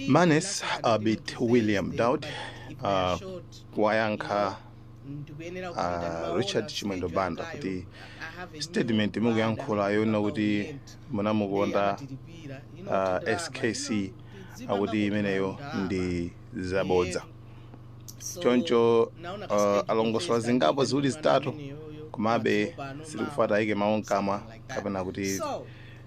Manganya Abiti William Daud uh, wayankha uh, Richard Chimwendo Banda kuti statement mukuyankhula yonena kuti munamukonda uh, SKC akuti imeneyo ndi zabodza choncho uh, alongosola zingapo ziwiri zitatu komabe sitikufuna tiyike mawu mkamwa kapena kuti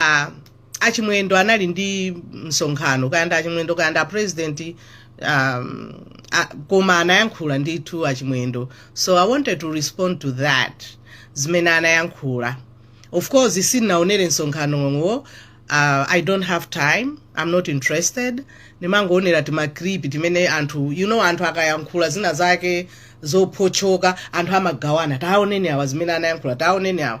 a achimwendo anali ndi msonkhano kaya ndi achimwendo kaya ndi apresident um, a, koma anayankhula ndithu achimwendo so i wanted to respond to that zimene anayankhula of course sindinaonere msonkhanowo uh, i don't have time i'm not interested ndimangoonera timaclip timene anthu you know anthu akayankhula zina zake zophotchoka anthu amagawana taoneni awa zimene anayankhula taoneni awa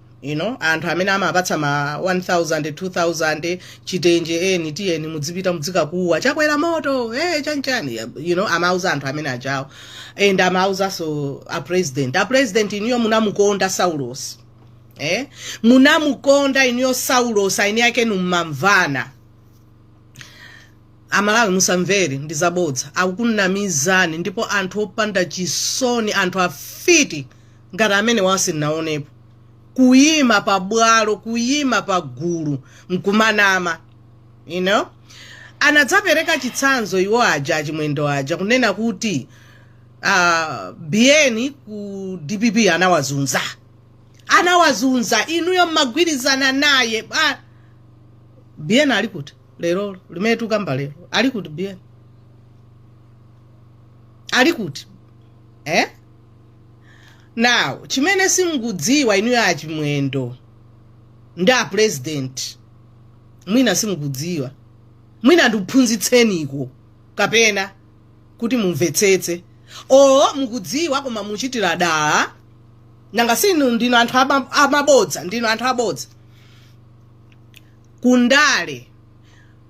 you know anthu amene amapatsa ma 1000 2000 chitenje eni tiyeni mudzipita mudzikakuwa chakwera moto eh chanchani you know amauza anthu amene ajawo and amauzanso a president a president iniyo munamukonda saulos eh munamukonda iniyo saulos eni ake mumamvana amalawi musamvere ndizabodza akukunamizani ndipo anthu opanda chisoni anthu afiti ngati amenewa sindinaonepo kuyima pa bwalo kuyima pa gulu nkumanama you know anadzapereka chitsanzo iwo aja achimwendo aja kunena kuti uh, bn ku dpp anawazunza anawazunza inuyo mmagwirizana naye ah, bn ali kuti lero limene tukamba lero ali kuti bn ali kuti eh? now chimene simukudziwa inuyo achimwendo ndi apurezidenti mwina simukudziwa mwina ndikuphunzitseniko kapena kuti mumvetsetse o mukudziwa koma muchitira dala nanga sinu ndinu anthu ama- amabodza ndinu anthu abodza kundale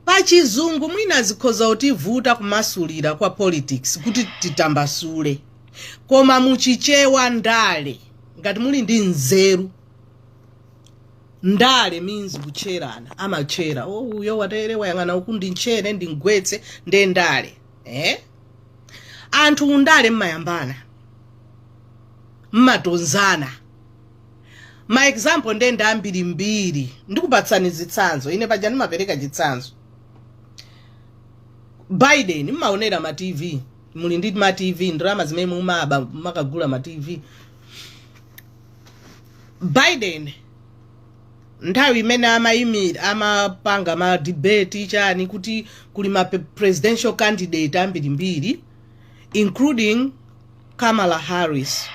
Pa chizungu mwina zikhoza kutivuta kumasulira kwa politics kuti titambasule koma mu chichewa ndale ngati muli ndi nzeru ndale means kutcherana amatchera oh uyo watere wayang'ana uku ndimtchere ndimgwetse nde ndale eh? anthu pandale mmayambana mmatonzana ma example nde ndi ambirimbiri ndikupatsani zitsanzo ine paja ndimapereka chitsanzo biden mmaonera ma tv muli ndi ma tv ndalama zimene mumaba makagula ma tv biden nthawi imene amayimira amapanga ma debate chani kuti kuli ma pe- presidential candidate ambirimbiri including kamala harris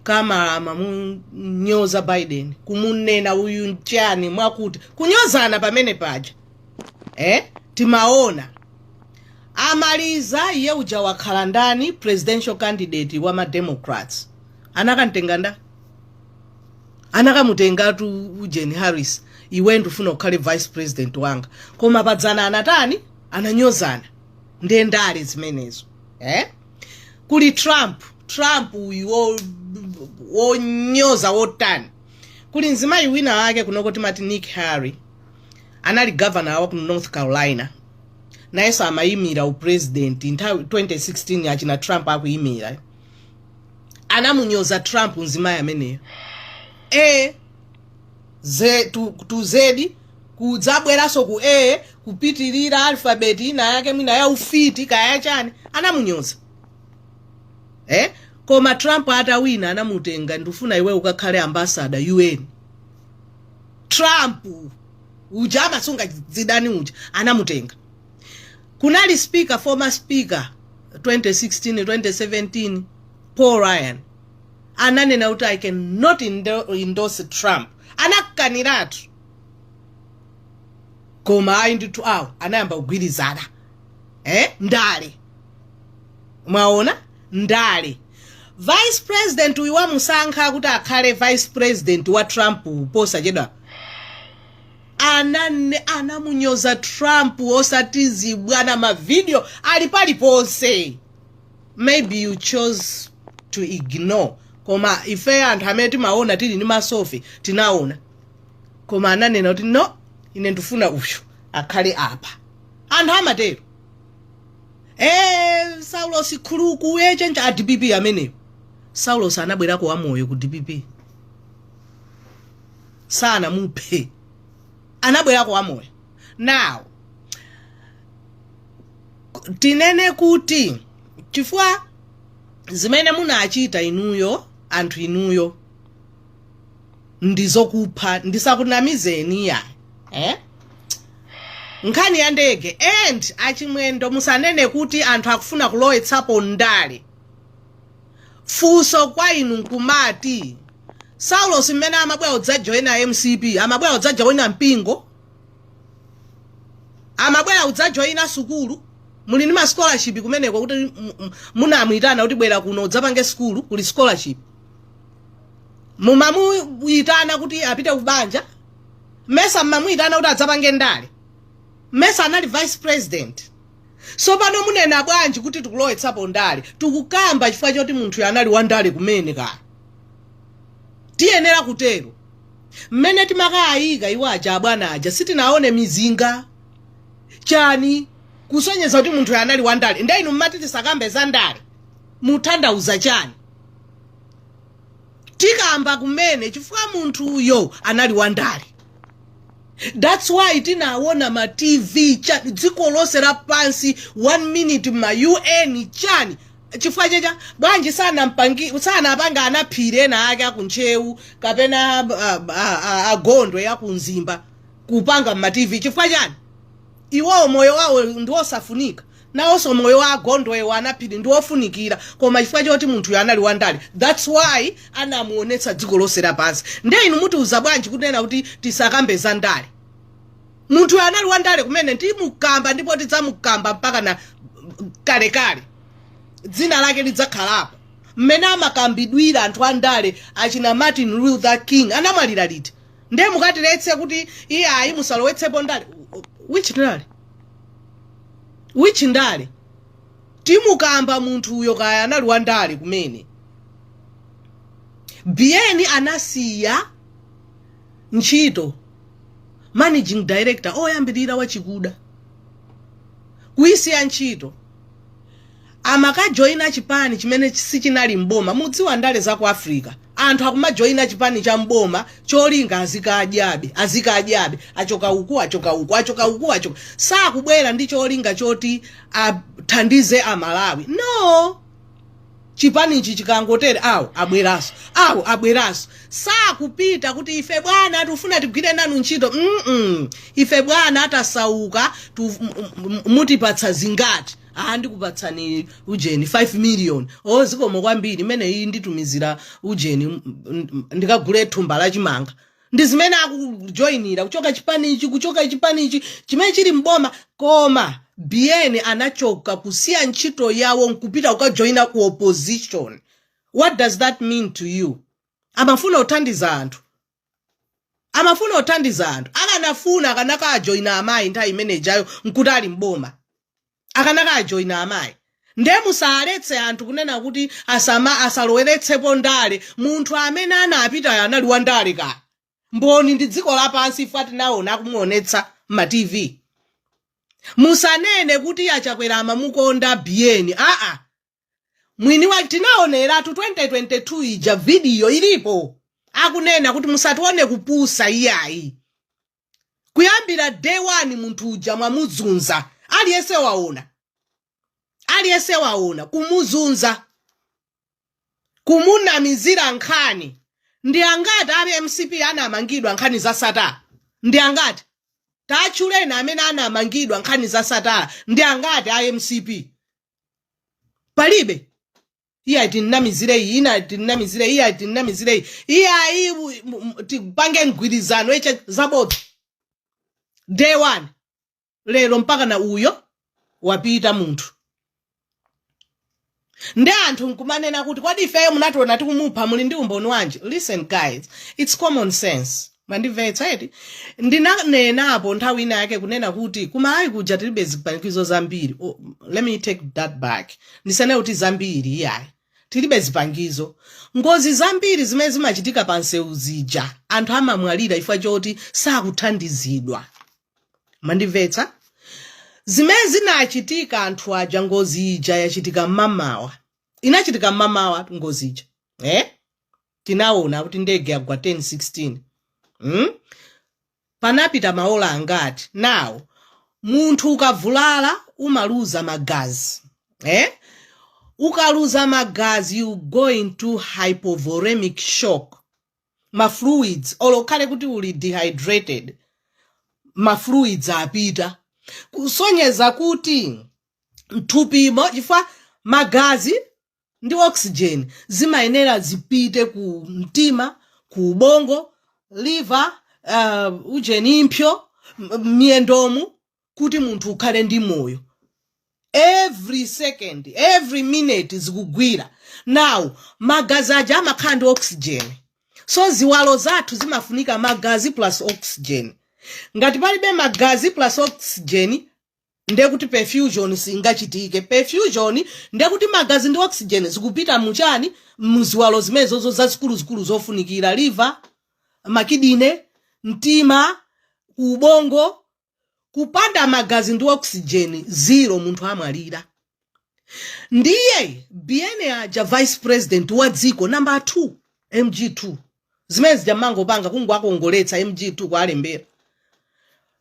kamala amamunyoza biden kumunena uyu nchani mwakuti kunyozana pamene paja eh? timaona amaliza iye uja wakhala ndani presidential candidate wa mademocrats anakamtenga nda anakamutengatu ujeni harris iwe ndifuna ukhale vice president wanga koma padzana anatani ananyozana nde ndale zimenezo eh? kuli trump trump uyu wo- wonyoza wotani kuli mzimayi wina wake kunoko timati nikki haley anali governor wa ku north carolina nayenso amayimira upresident nthawi 2016 achina trump akuyimira anamunyoza trump mzimayi ameneyo e ze tu, a to z kudzabweranso ku a kupitirira alphabet ina yake mwina ya ufiti kaya chani anamunyoza eh? koma trump atawina anamutenga ndifuna iwe ukakhale ambassador un trump uja amasunga zidani uja anamutenga kunali speaker former speaker 2016 2017 paul ryan ananena kuti i cannot indo- endorse trump anakaniratu koma ayi ndithu awo anayamba kugwirizana eh? ndale mwaona ndale vice president uyu wamusankha kuti akhale vice president wa trump posachedwa Ana nne anamunyoza Trump osati zibwana ma video ali paliponse maybe you chose to ignore koma ife anthu amene timaona tili ndi maso ife tinaona koma ananena kuti no ine ndifuna uyu akhale apa anthu amatero Eh, saulosi khuluku yechenja a dpp ameneyo saulosi anabwerako wamoyo ku dpp sanamuphe anabwerako wamoyo now tinene kuti chifukwa zimene munachita inuyo anthu inuyo ndizokupha ndisakunamizeni ya eh? nkhani ya ndege and achimwendo musanene kuti anthu akufuna kulowetsapo ndale Funso kwa inu nkumati, Saulos mmene amabwera kudzajoina mcp, amabwera kudzajoina mpingo? Amabwera kudzajoina sukulu? Muli ndi ma scholarship kumeneko kuti munamuitana kuti bwera kuno udzapange sukulu, kuli scholarship? Mumamuitana kuti apite kubanja? Mesa mmamuitana kuti adzapange ndale? Mesa anali vice president? So pano munena bwanji kuti tikulowetsapo ndale? Tikukamba chifukwa choti munthuyo anali wa ndale kumene kaya. Tiyenera kutero. Mmene timakaika iwo aja abwana aja sitinaone mizinga. Chani? Kusonyeza kuti munthuyo anali wa ndale. Nde inu mmati tisakambe za ndale. Muthandauza chani? tikamba kumene chifukwa munthuyo anali wandale thats why tinawona ma tv chani dziko lonse lapansi one minute ma un chani chifukwa chacha bwanji sanampangi- sanapanga anaphiri ena ake akuntchewu kapena ah, ah, ah, agondwe akumzimba kupanga mma tv chifukwa chani iwowo moyo wawo ndiwosafunika Nawonso moyo wa agondwe wa anaphiri ndi wofunikira koma chifukwa choti munthuyo anali wandale thats why anamuonetsa dziko lonse lapansi nde inu mutiuza bwanji kunena kuti tisakambe za ndale munthuyo anali wandale kumene timukamba ndipo tidzamukamba mpaka na kalekale dzina lake lidzakhalapo mmene amakambidwira anthu andale achina martin luther king anamwalira liti nde mukatiletse kuti iye ayi musalowetsepo ndale which ndale which ndale timukamba munthuyo kaya anali wa ndale kumene biyeni anasiya ntchito managing director oyambirira wachikuda kuyisiya ntchito amakajoina chipani chimene sichinali m'boma mudziwa ndale za ku africa anthu akumajoina chipani cha m'boma cholinga azikadyabe azikadyabe achoka uku achoka uku achoka uku achoka sakubwera ndi cholinga choti athandize amalawi no Chipanichi chikangotere awo abweraso awo abweraso sakupita kuti ife bwana tikufuna tigwire nanu ntchito mm ife bwana tasauka, mutipatsa zingati ah ndikupatsani ujeni 5 million oh zikomo kwambiri imeneyi nditumizire ujeni ndikagule thumba la chimanga ndi zimene akujoinira kuchoka chipani ichi kuchoka chipani ichi chimene chili mboma koma biyeni anachoka kusiya ntchito yawo nkupita kukajoina ku opposition what does that mean to you amafuna kuthandiza anthu amafuna kuthandiza anthu akanafuna akanakajoina amayi nthawi imenejayo nkuti ali mboma akanakajoina amayi nde musaletse anthu kunena kuti asama asaloweretsepo ndale munthu amene anapita anali wa ndale kaya mboni ndi dziko lapansi ife tinaona akumuonetsa mma tv musanene kuti a Chakwera amamukonda biyeni aa mwini wake tinaoneratu 2022 ija vidiyo ilipo akunena kuti musatione kupusa iyayi kuyambira day one munthu uja mwamuzunza aliyense waona aliyense waona kumuzunza kumunamizira nkhani ndi angati a mcp anamangidwa nkhani za Sattar ndi angati tatchuleni amene anamangidwa nkhani za Sattar ndi angati a mcp palibe iyayi timnamizire iyi ina timnamizire iyayi timnamizire iyi iyayi u- m- m- tipange mgwirizano iche zabodza day one lero mpakana uyo wapita munthu ndi anthu nkumanena kuti kodi ifeyo munationa tikumupha muli ndi umboni wanji listen guys it's common sense Mwandimvetsa eti? Ndinanenapo nthawi ina yake kunena kuti ku Malawi kuja tilibe zipangizo zambiri. Oh, let me take that back. Ndisene kuti zambiri iyayi. Tilibe zipangizo. Ngozi zambiri zimene zimachitika pa msewu zija anthu amamwalira chifukwa choti sakuthandizidwa. Mwandimvetsa? zimene zinachitika anthu aja ngozi ija yachitika mmamawa inachitika mmamawa ngozi ija eh? tinaona kuti ndege yagwa 1016 hmm? panapita maola angati now munthu ukavulala umaluza magazi eh? ukaluza magazi you go into hypovolemic shock ma fluids olo ukhale kuti uli dehydrated ma fluids apita kusonyeza kuti mthupimo chifukwa magazi ndi oxygen zimayenera zipite ku mtima ku ubongo liver uh, ujeni impyo m- miyendomu kuti munthu ukhale ndi moyo every second every minute zikugwira now magazi aja amakhala ndi oxygen so ziwalo zathu zimafunika magazi plus oxygen ngati palibe magazi plus oxygen ndekuti perfusion singachitike perfusion ndekuti magazi ndi oxygen zikupita muchani muziwalo zimenezozo zazikuluzikulu zofunikira liver makidine mtima ubongo kupanda magazi ndi oxygen zero munthu amwalira ndiye bn aja vice president wa dziko namba 2 mg2 zimene zija mmangopanga kungowakongoletsa mg2 kuwalembera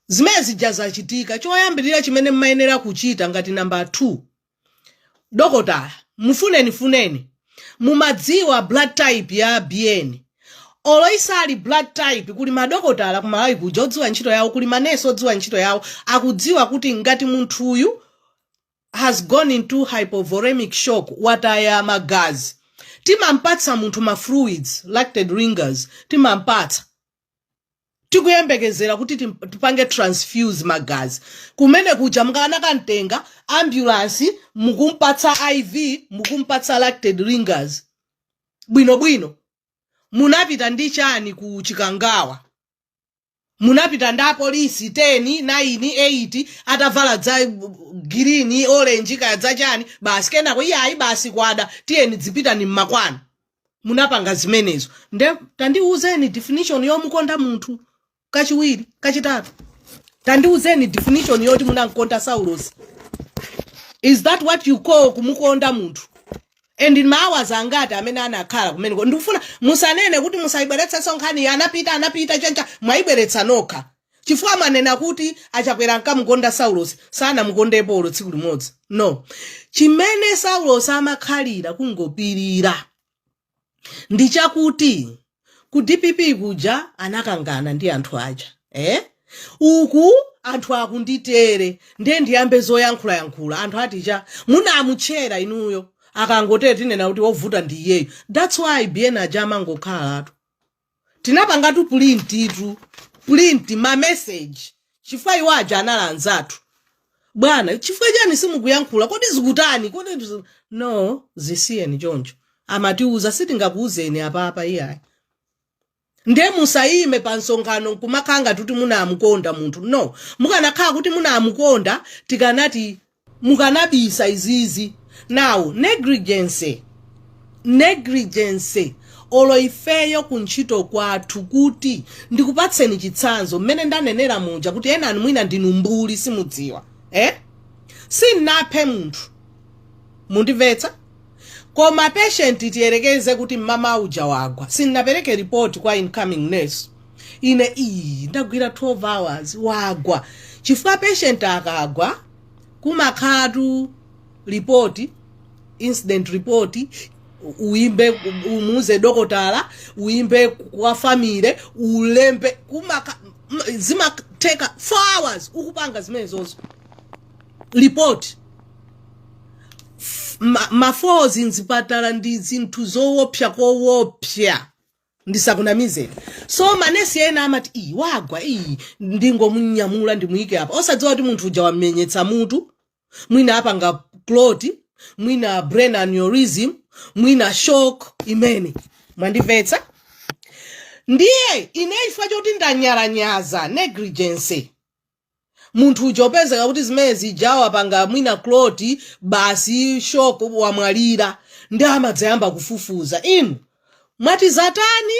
zimene zija zachitika choyambirira chimene mmayenera kuchita ngati namba 2 dokotala mufunenifuneni mumadziwa blood type ya bn olo isali blood type kuli madokotala kumalawi kuja odziwa ntchito yawo kuli manesi odziwa ntchito yawo akudziwa kuti ngati munthuyu has gone into hypovolemic shock wataya magazi timampatsa munthu ma fluids lactate ringers timampatsa tikuyembekezera kuti tim- tipange transfuse magazi kumene kuja mukanakamtenga ambulance mukumpatsa iv mukumpatsa lactate ringers bwinobwino munapita ndi chani ku chikangawa munapita ndi apolisi 10 9 8 atavala za girini olenji kaya zachani basi kenako iyayi basi kwada tiyeni dzipitani mmakwanu munapanga zimenezo nde tandiuzeni definition yomukonda munthu kachiwiri kachitatu tandiuzeni definition yoti munamkonda saulosi is that what you call kumukonda munthu and ma hours angati amene anakhala kumeneko ndikufuna musanene kuti musayibweretsanso nkhaniyi anapita anapita choncha mwayibweretsa nokha chifukwa mwanena kuti achakwera ankamukonda saulosi sanamukondepo olo tsiku limodzi no chimene saulosi amakhalira kungopirira ndi chakuti ku dpp kuja anakangana ndi anthu aja eh? uku anthu akunditere nde ndiyambe zoyankhulayankhula anthu aja munamutchera inuyo akangotere tinena kuti wovuta ndi iyeyo thats why bn aja amangokhalatu tinapangatu pulintitu pulinti mameseji chifukwa iwo aja anali anzathu bwana chifukwa chani simukuyankhula kodi zikutani kodi zi- no zisiyeni choncho amatiuza sitingakuuzeni apapa iyayi nde musayime pa msonkhano nkumakhala ngati kuti munamukonda munthu no mukanakhala kuti munamukonda tikanati mukanabisa izizi now negligence negligence olo ifeyo kuntchito kwathu kuti ndikupatseni chitsanzo mmene ndanenera muja kuti enanu mwina ndinu mbuli simudziwa eh? sinaphe munthu mundimvetsa koma patient tiyerekeze kuti mmama uja wagwa sinapereke report kwa incoming nurse ine iyi ndagwira 12 hours wagwa chifukwa patient akagwa kumakhatu report incident report uimbe umuuze dokotala uimbe kwa family ulembe kuma- zimateka 4 hours ukupanga zimenezozo report ma- ma falls mzipatala ndi zinthu zowopsya kowopsya ndisakunamizeni so manesi ena amati iyi wagwa iyi ndingomunyamula ndimuyike apa osadziwa kuti munthu uja wamenyetsa mutu mwina apanga clot mwina brain aneurysm mwina shock imene mwandimvetsa ndiye ine chifukwa choti ndanyalanyaza negligence munthu uja upezeka kuti zimene zija wapanga mwina clot basi shock wamwalira ndiye amadzayamba kufufuza inu mwati zatani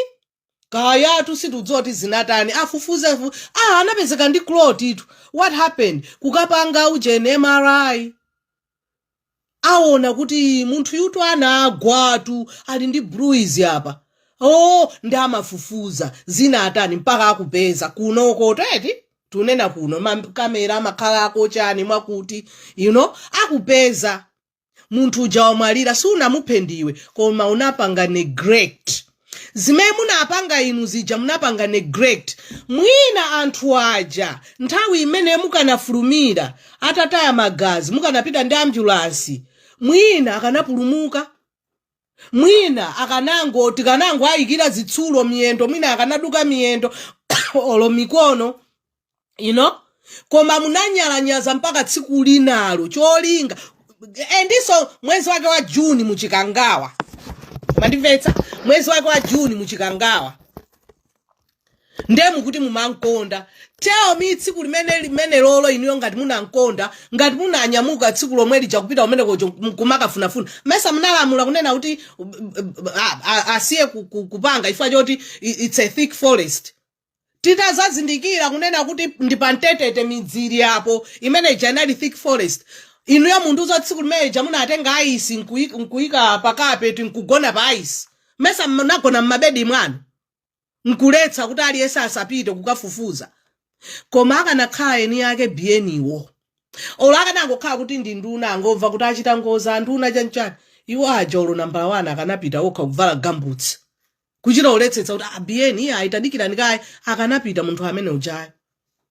kayatu sitikudziwa kuti zinatani afufuze afu- ah anapezeka ndi clot-tu what happened kukapanga ujeni mri aona kuti munthu uyutu anagwatu ali ndi bruise apa oh ndiye amafufuza zinatani mpaka akupeza kunoko tikuti tunena kuno makamera amakhala akochani mwakuti you know akupeza munthu uja wamwalira sunamuphe ndiwe koma unapanga neglect zimene munapanga inu zija munapanga neglect mwina anthu aja nthawi imeneyo mukanafulumira atataya magazi mukanapita ndi ambulansi mwina akanapulumuka mwina akanango tikanangowayikira zitsulo miyendo mwina akanaduka miyendo olo mikono you know koma munanyalanyaza mpaka tsiku linalo cholinga endinso mwezi wake wa juni mu Chikangawa mwandimvetsa mwezi wake wa juni muchikangawa ndiye mukuti mumankonda tell me tsiku limene limenelolo inuyo ngati munankonda ngati munanyamuka tsiku lomwe lija kupita kumene kocho kumakafunafuna mesa munalamula kunena kuti uh, uh, a- a- asiye ku- ku- kupanga chifukwa choti i- it's a thick forest titadzazindikira kunena kuti ndi pamtetete midzi ili apo imene ija inali thick forest inuyo muntiuza tsiku limene ija munatenga aisi nkuyi- nkuyika pakapeti nkugona pa aisi mesa munagona mmabedi mwanu nkuletsa kuti aliyense asapite kukafufuza koma akanakhala eni ake Biyeniwo olo akanangokhala kuti ndi nduna angomva kuti achita ngozi anduna chanchani iwo aja olo nambala wani akanapita okha kuvala gambutsi kuchita kuwonetsetsa kuti a Biyeni iye ayi tadikirani kaye akanapita munthu amene ujayo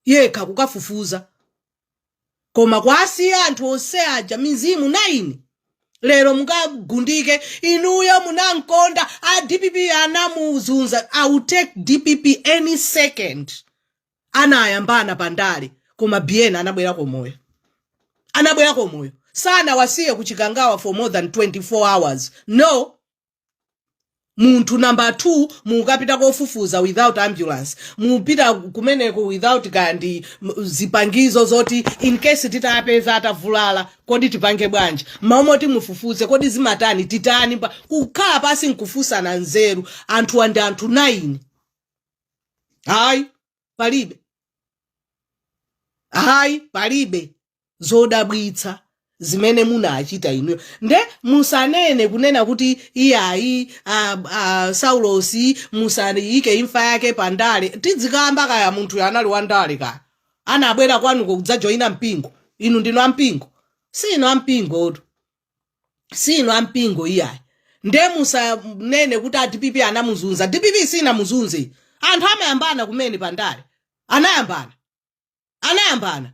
yekha kukafufuza koma kwasiya anthu onse aja mizimu 9 lero mukagundike inuyo munamkonda a dpp anamuzunza i will take dpp any second anayambana pandale koma bn anabwerako wamoyo anabwerako wamoyo sanawasiye kuchikangawa for more than 24 hours no munthu namba 2 mukapita kofufuza without ambulance mupita kumeneko without kaya ndi m- zipangizo zoti in case titapeza atavulala kodi tipange bwanji mmalo moti mufufuze kodi zimatani titani pa- kukhala pansi nkufunsana nzeru anthuwa ndi anthu 9 hayi palibe hayi palibe zodabwitsa zimene munachita inuyo nde musanene kunena kuti iyayi a, a, saulosi musayike imfa yake pa ndale tidzikamba kaya munthuyo anali wa ndale kaya anabwera kwanuko kudzajoyina mpingo inu ndinu ampingo si ndinu ampingotu si inu ampingo iyayi nde musanene kuti a dpp anamuzunza dpp sinamuzunze anthu amayambana kumene pandale anayambana anayambana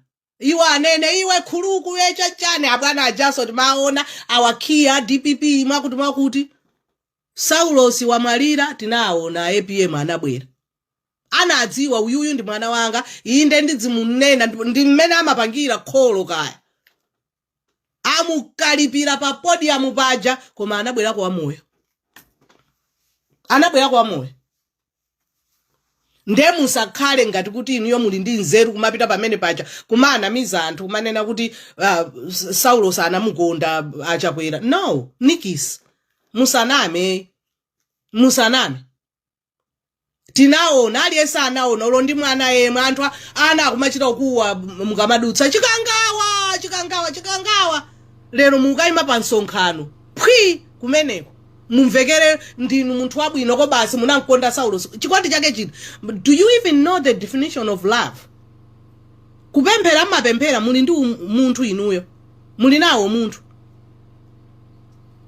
iwo anene iwe Nkhuluku yecha chani abwana ajaso timaona awakhiya dpp mwakuti mwakuti saulosi wamwalira tinaona apm anabwera anadziwa uyuyu ndi mwana wanga inde ndidzimunena ndi ndi mmene amapangira kholo kaya amukalipira pa podium paja koma anabwerako wamoyo anabwerako wamoyo nde musakhale ngati kuti inuyo muli ndi nzeru kumapita pamene paja kumanamiza anthu kumanena kuti uh, saulosi anamukonda achakwera no nikis musaname musaname tinaona aliyense anaona olo ndi mwana yemwe anthu a- ana akumachita kukuwa mukamadutsa chikangawa chikangawa chikangawa lero mukayima pa msonkhano phwi kumeneko mumvekere ndinu munthu wabwinoko basi munamkonda saulosi chikondi chake chiti do you even know the definition of love kupemphera mmapemphera muli ndi umunthu inuyo muli nawo umunthu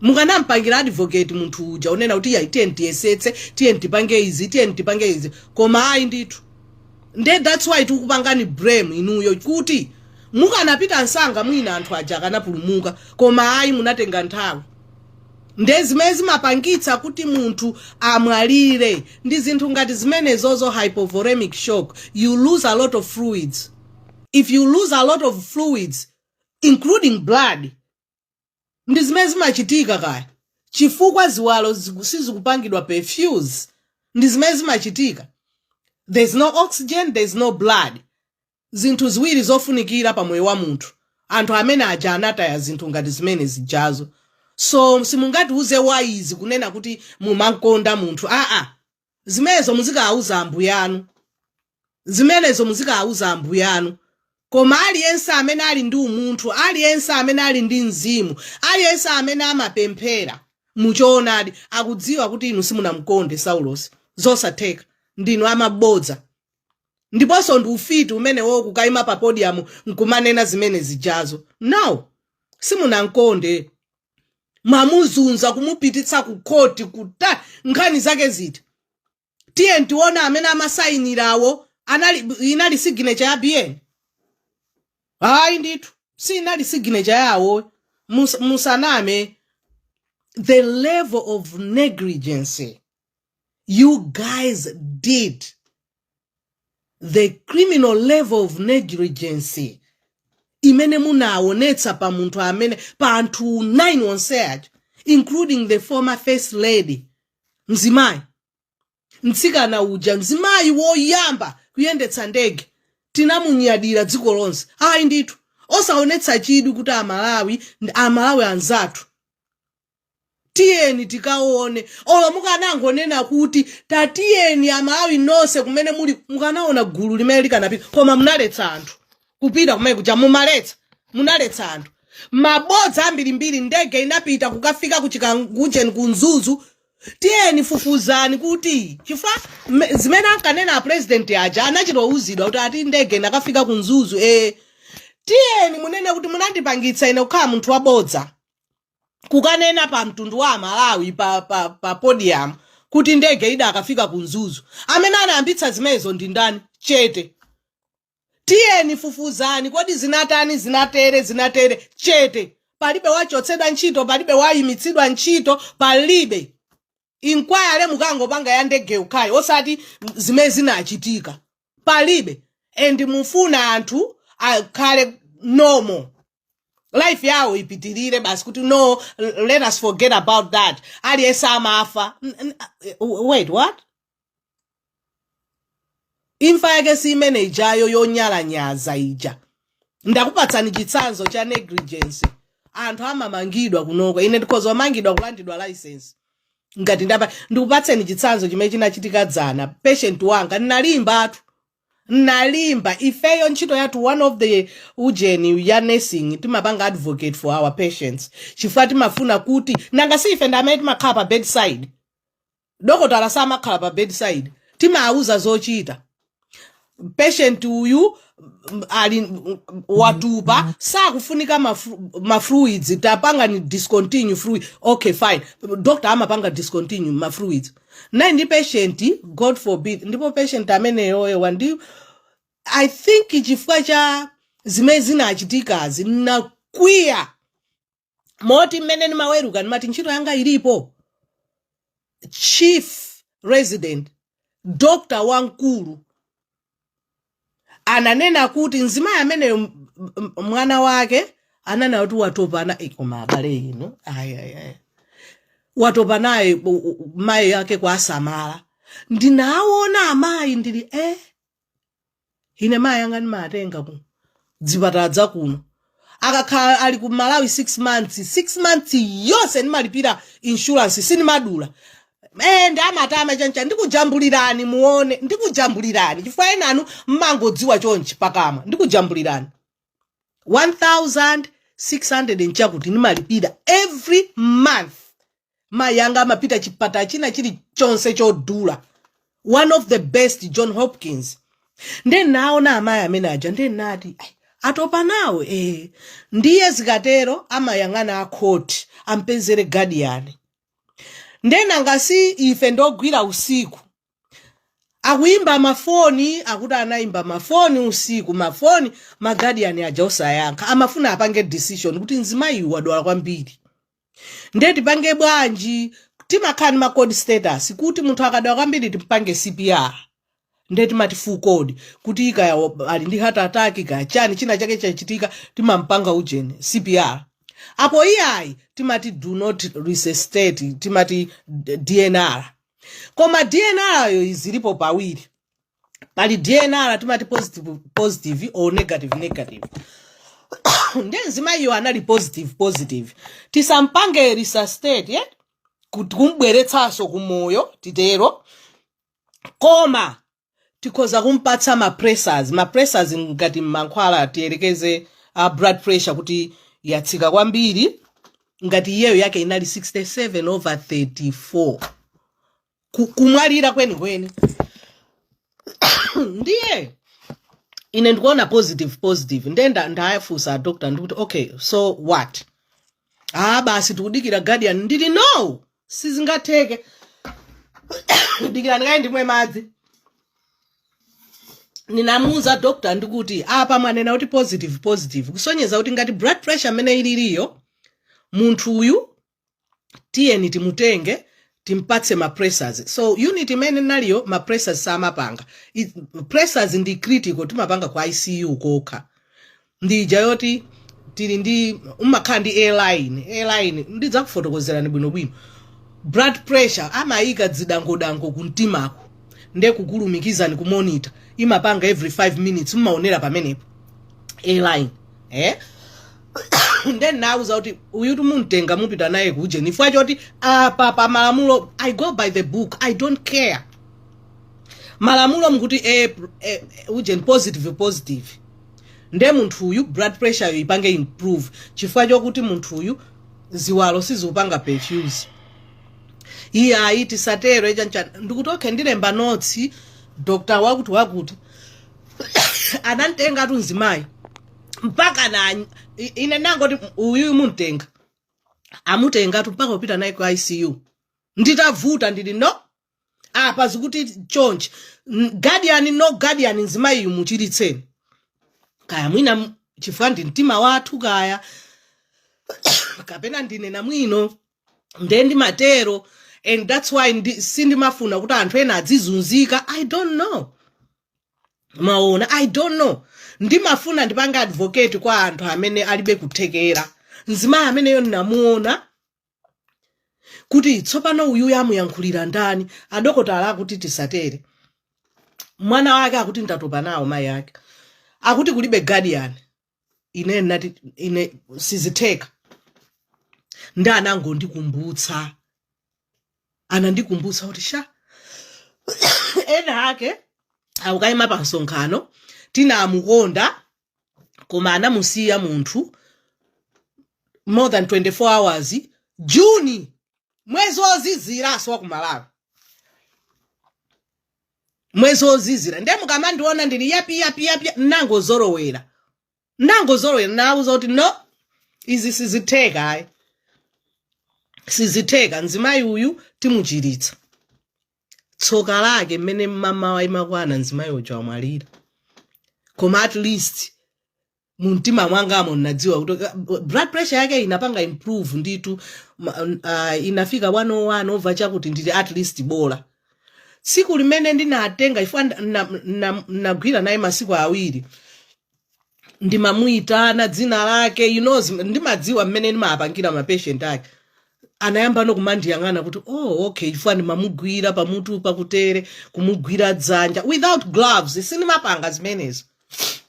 mukanampangira advocate munthu uja kunena kuti iyayi tiyeni tiyesetse tiyeni tipange izi tiyeni tipange izi koma ayi ndithu nde that's why tikupangani blame inuyo kuti mukanapita msanga mwina anthu aja akanapulumuka koma ayi munatenga nthawi nde zimene zimapangitsa kuti munthu amwalire ndi zinthu ngati zimenezozo hypovolemic shock you lose a lot of fluids if you lose a lot of fluids including blood ndi zimene zimachitika kaya chifukwa ziwalo ziku- sizikupangidwa perfuse ndi zimene zimachitika there's no oxygen there's no blood zinthu ziwiri zofunikira pa moyo wa munthu anthu amene aja anataya zinthu ngati zimene zijazo so simungatiuze wise kunena kuti mumankonda munthu aa Zimenezo muzikawauza ambuye anu. Zimenezo muzikawauza ambuye anu. Koma aliyense amene ali ndi umunthu, aliyense amene ali ndi mzimu, aliyense amene amapemphera mu choonadi, akudziwa kuti inu simunamkonde Saulosi. Zosatheka. Ndinu amabodza. Ndiponso ndi ufiti umenewo kukaima pa podiyamu nkumanena zimene zijazo. No! Simunamkonde. mwamuzunza kumupititsa ku khoti kuti nkhani zake ziti tiye tione amene amasayinirawo anali inali signature ya bn ayi ndithu si inali signature yawo Mus- musaname the level of negligence You guys did the criminal level of negligence imene munaonetsa pa munthu amene pa anthu 9 onse aja including the former first lady mzimayi mtsikana uja mzimayi woyamba kuyendetsa ndege tinamunyadira dziko lonse ayi ndithu osaonetsa chidwi kuti amalawi amalawi anzathu tiyeni tikaone olo mukanangonena kuti tatiyeni amalawi nonse kumene muli mukanaona gulu limene likanapita koma munaletsa anthu kupita kumene kuja mumaletsa munaletsa anthu mabodza ambirimbiri ndege inapita kukafika ku chikangawa ku mzuzu tiyeni fufuzani kuti chifukwa me- zimene ankanena apurezidenti aja anachita ouzidwa kuti ati ndege inakafika ku mzuzu eh tiyeni munene kuti munandipangitsa ine kukhala munthu wabodza kukanena pa mtundu wa amalawi pa, pa, pa podium kuti ndege idakafika ku mzuzu amene anayambitsa zimenezo ndi ndani chete tiyeni fufuzani kodi zinatani zinatere zinatere chete palibe wachotsedwa ntchito palibe wayimitsidwa ntchito palibe inkwayale mukangopanga ya ndege yokhayi osati zimene zinachitika palibe and mufuna anthu akhale normal life yawo ipitirire basi kuti no let us forget about that aliyense amafa N- n- wait what imfa yake si imene ijayo yonyalanyaza ija ndakupatsani chitsanzo cha negligence anthu amamangidwa kunoko ine ndikhoza kumangidwa kulandidwa license ngati ndapa ndikupatseni chitsanzo chimene chinachitika dzana patient wanga nnalimbatu nnalimba ifeyo ntchito yathu one of the ujeni ya nursing timapanga advocate for our patients chifukwa timafuna kuti nanga si ife ndi amene timakhala pa bedside dokotala samakhala pa bedside timawuza zochita patient uyu mm, ali mm, watupa sakufunika mafru- mafluids tapangani discontinue fluid okay fine doctor amapanga discontinue mafluids nali ndi patient god forbid ndipo patient ameneyoyo wandi i think chifukwa cha zimene zinachitikazi nakwiya moti mmene ndimaweruka ndimati ntchito yanga ilipo chief resident doctor wamkulu ananena kuti mzimayi ameneyo m- m- mwana wake ananena kuti watopa na eh, koma abale inu ayi ayi ayi watopa naye u- u- mayi ake kuwasamala ndinaona amayi ndili eh ine mayi anga ndimatenga ku dzipatala dzakuno akakhala ali ku malawi 6 months 6 months yonse ndimalipira insurance sindimadula Eh, ndi matama chonchi ndikujambulirani muone ndikujambulirani chifukwa enanu mmangodziwa chonchi pakamwa ndikujambulirani 1600 nchakuti ndimalipira every month mayi anga amapita chipatala china chilichonse chodula one of the best john hopkins nde naona amayi amene aja nde nati "Ai, atopa nawo eh. ndiye zikatero amayang'ana akhoti ampezere gadiyani nde nanga si ife ndogwira usiku akuyimba mafoni akuti anayimba mafoni usiku mafoni ma guardian aja osayankha amafuna apange decision kuti mzimayi wadwala kwambiri nde tipange bwanji timakhala ndi macode status kuti munthu akadwala kwambiri timpange cpr nde timati full code kuti kaya wa- ali ndi heart attack kaya chiyani china chake chachitika timampanga ujeni cpr apo iyayi timati do not resuscitate timati d- dnr koma dnr yoyo zilipo pawiri pali dnr timati positive, positive or negative negative nde mzimayiyo anali positive positive tisampange resuscitate eh? kuti kumbweretsanso kumoyo titero koma tikhoza kumpatsa ma pressors ma pressors ngati mankhwala tiyerekeze a blood pressure kuti yatsika kwambiri ngati iyeyo yake inali 67 over 34 Ku- kumwalira kwenikweni ndiye ine ndikuona positive positive ndiye nda- ndayafunsa adoctor ndikuti okay so what ah basi tikudikira guardian ndili no sizingatheke dikirani kaye ndimwe madzi ndinamuuza doctor ndikuti apa mwanena kuti positive positive kusonyeza kuti ngati blood pressure mmene ililiyo munthu uyu tiyeni timutenge timpatse ma pressers so unit imene naliyo ma pressers samapanga pressers ndi critical timapanga ku icu kokha ndi ija yoti tili ndi umakhala ndi A-line A-line ndidzakufotokozerani bwinobwino blood pressure amayika dzidangodango ku mtimako nde kukulumikizani ku monitor imapanga every 5 minutes mumaonera pamenepo A-line eh? nde ndinawauza kuti uyu timumtenga mupita naye kujeni ifukwa choti apa pa malamulo i go by the book i don't care malamulo mkuti eh, eh, ujeni positive positive nde munthuyu blood pressure yo ipange improve chifukwa chokuti munthuyu ziwalo sizikupanga perfuse iyayi tisatero echancha ndikuti okay ndilemba notsi dokotala wakuti wakuti anamtengatu mzimayi mpaka na i- ine nangoti uyu mumtenga amutengatu mpaka kupita naye ku icu nditavuta ndili no apa zikuti chonchi guardian no guardian nzimayiyu muchiritseni kaya mwina m- chifukwa ndi mtima wathu kaya kapena ndine namwino nde ndimatero and that's why sindimafuna kuti anthu ena adzizunzika i don't know mwaona i don't know ndimafuna ndipange advocate kwa anthu amene alibe kuthekera mzimayi ameneyo ndinamuona kuti tsopano uyuyo amuyankhulira ndani adokotala akuti tisatere mwana wake akuti ndatopa nawo mayi ake akuti kulibe guardian ine nati ine sizitheka nde anangondikumbutsa anandikumbutsa kuti sha ena ake akukayima pa msonkhano tinamukonda koma anamusiya munthu more than 24 hours juni mwezi woziziranso wa kumalawi mwezi wozizira ndiye mukamandiona ndili yapi yapi yapi nangozolowera nangozolowera nawauza kuti no izi sizitheka ayi sizitheka mzimayi uyu timuchiritsa tsoka lake mmene mmamawa imakwana mzimayi uja wamwalira koma at least mumtima mwangamo ndinadziwa kuti blood pressure yake inapanga improve nditu inafika 101 over chakuti ndili at least bola tsiku limene ndinatenga chifukwa nda- na- na- nagwira naye masiku awiri ndimamuyitana dzina lake you know zim- ndimadziwa mmene ndimapangira mapatient ake anayambano kumandiyang'ana kuti oh okay chifukwa ndimamugwira pamutu pakutere kumugwira dzanja without gloves sindimapanga zimenezo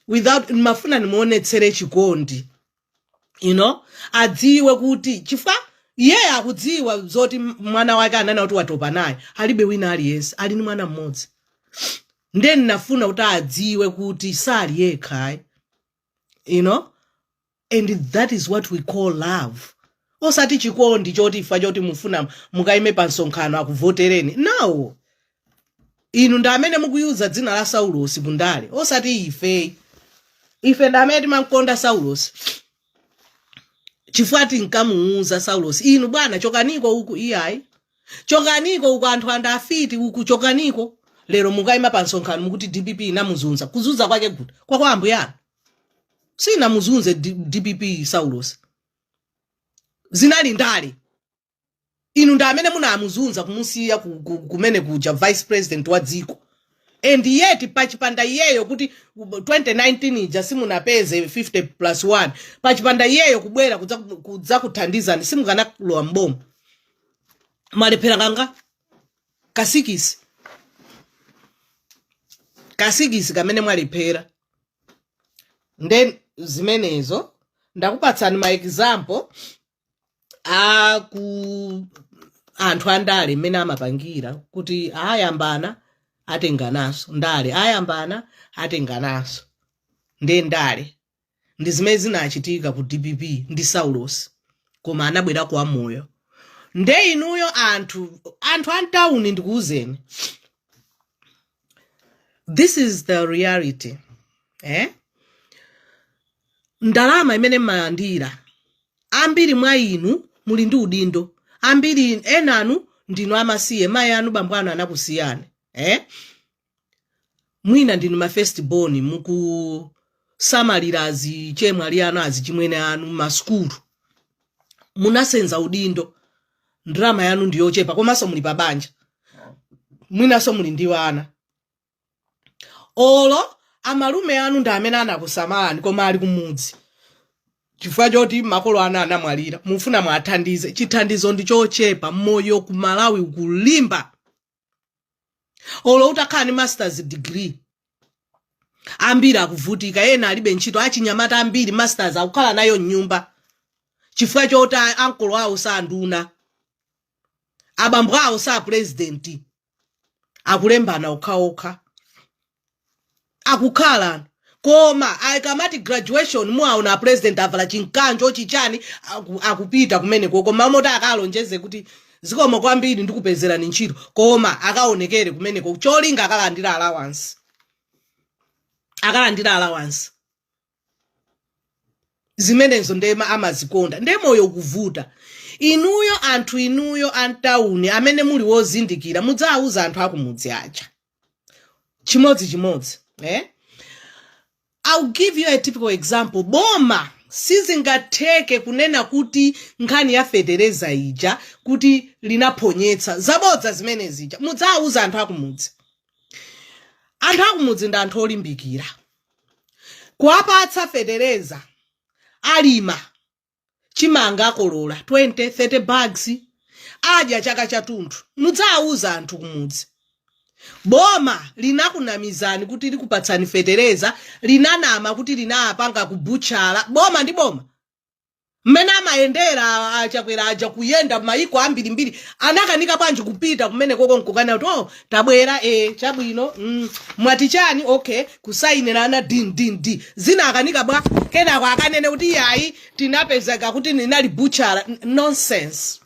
without ndimafuna ndimuonetsere chikondi you know adziwe kuti chifukwa iyeyo akudziwa zoti m- mwana wake ananena kuti watopa naye alibe wina aliyense ali ni mwana mmodzi nde ndinafuna kuti adziwe kuti sali yekha ayi you know and that is what we call love osati chikondi choti chifukwa choti mufuna mukaime pa msonkhano akuvotereni no inu ndamene mukuyuza dzina la saulosi ku ndale osati ife ife ndamene timamkonda saulosi chifukwa tinkamuuza saulosi inu bwana chokaniko uku iyayi chokaniko uku anthu andafiti uku chokaniko lero mukayima pa msonkhano mukuti dpp inamuzunza kuzunza kwake kuti kwa kwa ambuyanu inamuzunza D- dpp saulosi zinali ndale inu ndi amene munamuzunza kumusiya ku- ku- kumene kuja vice president wa dziko and yet pachipanda iyeyo kuti 2019 ija simunapeze 50 plus 1 pachipanda iyeyo kubwera kudza- kudzakuthandizani simukanalowa mboma mwalephera kangati kasikisi kasikisi kamene mwalephera nde zimenezo ndakupatsani ma example a anthu andale mmene amapangira kuti ayambana atengananso ndale ayambana atengananso nde ndale ndi zimene zinachitika ku dpp ndi saulosi koma anabwera kwa moyo nde inuyo anthu anthu antawuni ndikuwuzeni this is the reality eh? ndalama imene mmalandira ambiri mwa inu muli ndi udindo ambiri enanu ndinu amasiye mayi anu bambo anu anakusiyani eh? mwina ndinu ma first born mukusamalira azichemwali anu azichimwene anu masukulu munasenza udindo ndalama yanu ndi yochepa komanso muli pa banja mwinanso muli ndi ana olo amalume anu ndi amene anakusamalani koma ali kumudzi chifukwa choti makolo anu anamwalira mufuna mwathandize chithandizo ndi chochepa moyo ku malawi ukulimba olo utakhala ndi masters degree ambiri akuvutika ena alibe ntchito achinyamata ambiri masters akukhala nayo mnyumba chifukwa choti a- ankolo awo sanduna abambo awo sa purezidenti akulembana okhaokha akukhala koma ikamati graduation muwawona apresident avala chinkanjo chichani aku, akupita kumeneko osati akalonjeze kuti zikomo kwambiri ndikupezerani ntchito koma akaonekere kumeneko cholinga akalandira allowance akalandira allowance zimenezo ndiye ma- amazikonda ndiye moyo kuvuta inuyo anthu inuyo antawuni amene muli wozindikira mudzawuza anthu akumudzi aja chimodzi chimodzi eh? I'll give you a typical example. Boma sizingatheke kunena kuti nkhani ya fetereza ija kuti linaponyetsa zabodza zimene zija mudzawuza anthu akumudzi anthu akumudzi ndi anthu olimbikira kuwapatsa fetereza alima chimanga akolola 20 30 bags adya chaka chathunthu mudzawuza anthu kumudzi boma linakunamizani kuti likupatsani fetereza linanama kuti linapanga kubutchala boma ndi boma mmene amayendera achakwera aja kuyenda mayiko ambirimbiri anakanika bwanji kupita kumene koko nkukana kuti oh, tabwera e chabwino mm, mwati chani okay kusayinirana din din di zinakanika bwa kenako akanene kuti yayi tinapezeka kuti inali butchala N- nonsense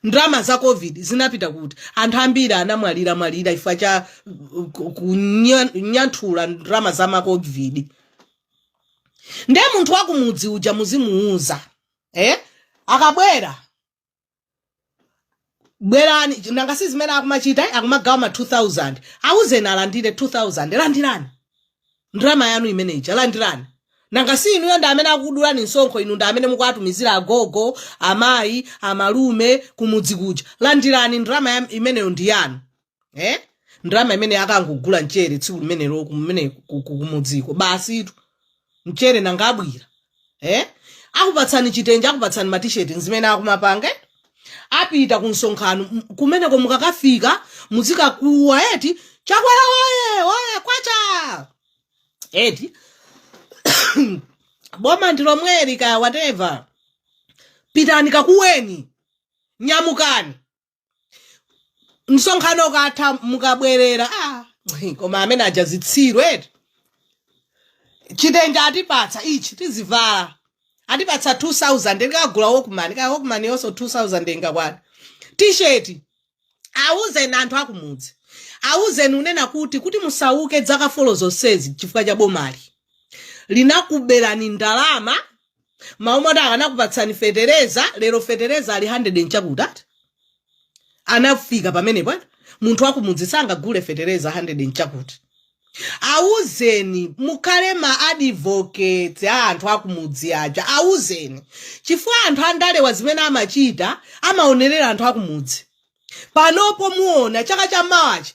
ndalama za covid zinapita kuti anthu ambiri anamwalira mwalira chifukwa cha uh, ku- kunyanthula ndalama za macovid nde munthu wakumudzi uja muzimuuza eh? akabwera bwerani nanga si zimene akumachita eh? akumagawa ma 2000 auzeni alandire 2000 landirani ndalama yanu imene ija landirani nanga si inuyo ndi amene akukudulani msonkho inu ndi amene mukuwatumizira agogo amayi amalume kumudzi kuja landirani ndalama ya- imeneyo ndi yanu eh? ndalama imene akangogula mchere tsiku limenelo kumene ku- ku- kumudziko basitu mchere nanga abwera eh? akupatsani chitenje akupatsani matisheti nzimene akumapanga eh? apita ku msonkhano m- kumeneko mukakafika muzikakuwa eti chakwera oye oye kwacha eti boma ndilomweri kaya whatever pitani kakuweni nyamukani msonkhano ukatha mukabwerera ah, koma amene aja zitsiru eti chitenje atipatsa ichi tizivala atipatsa 2000 ndikagule walkman kaya walkman yonso 2000 ingakwana tisheti awuzeni anthu akumudzi awuzeni kunena kuti kuti musauke dzaka folo zonsezi chifukwa cha bomali linakuberani ndalama mmalo moti akanakupatsani fetereza lero fetereza ali 100 nchakutati anafika pamenepo ati munthu wakumudzi sangagule fetereza 100 nchakuti awuzeni mukhale ma advocates a anthu akumudzi aja awuzeni chifukwa anthu andalewa zimene amachita amaonerera anthu akumudzi panopo muona chaka cha mawachi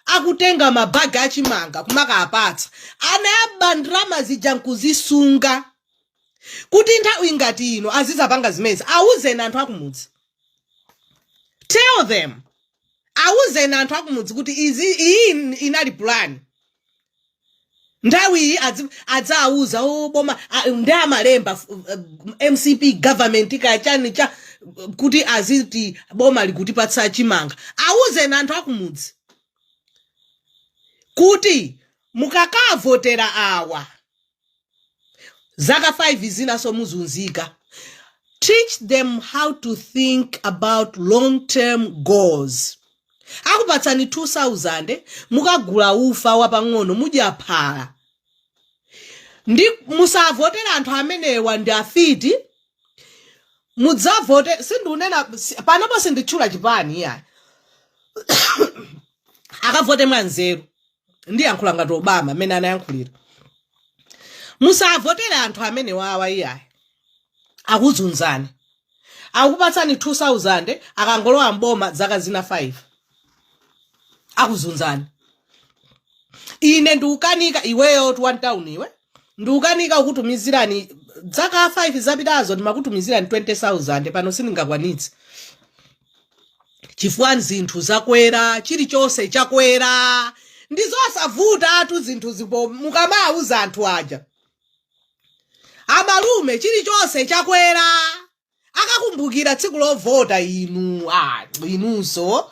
akutenga mabagi achimanga kumakapatsa anaba ndalama zija nkuzisunga kuti nthawi ngati ino azizapanga zimenezi awuzeni anthu akumudzi tell them awuzeni anthu akumudzi kuti izi iyi inali plan nthawi iyi adzi- adzawuza o boma a- ndiye amalemba f- eh, mcp government kachani cha kuti aziti boma likutipatsa chimanga awuzeni anthu akumudzi kuti mukakavotera awa zaka 5 zinaso muzunzika teach them how to think about long term goals akupatsani 2000 mukagula ufa wapang'ono mudya phala ndiye musavotere anthu amenewa ndi afiti mudzavote sindunena si- panopo sinditchula chipani iya akavote mwanzeru ndiyankhula ngati obama amene anayankhulira musavotere anthu amenewawa iyayi akuzunzani akupatsani 2000 akangolowa mboma zaka zina 5 akuzunzani ine ndiukanika iweyotu wa mtown iwe ndiukanika kukutumizirani zaka 5 zapitazo ndimakutumizirani 20000 pano sindingakwanitse chifukwa zinthu zakwera chilichonse chakwera ndi zosavutatu zinthu zipo mukamawuza anthu aja amalume chilichonse chakwera akakumbukira tsiku lovota inu ah, inunso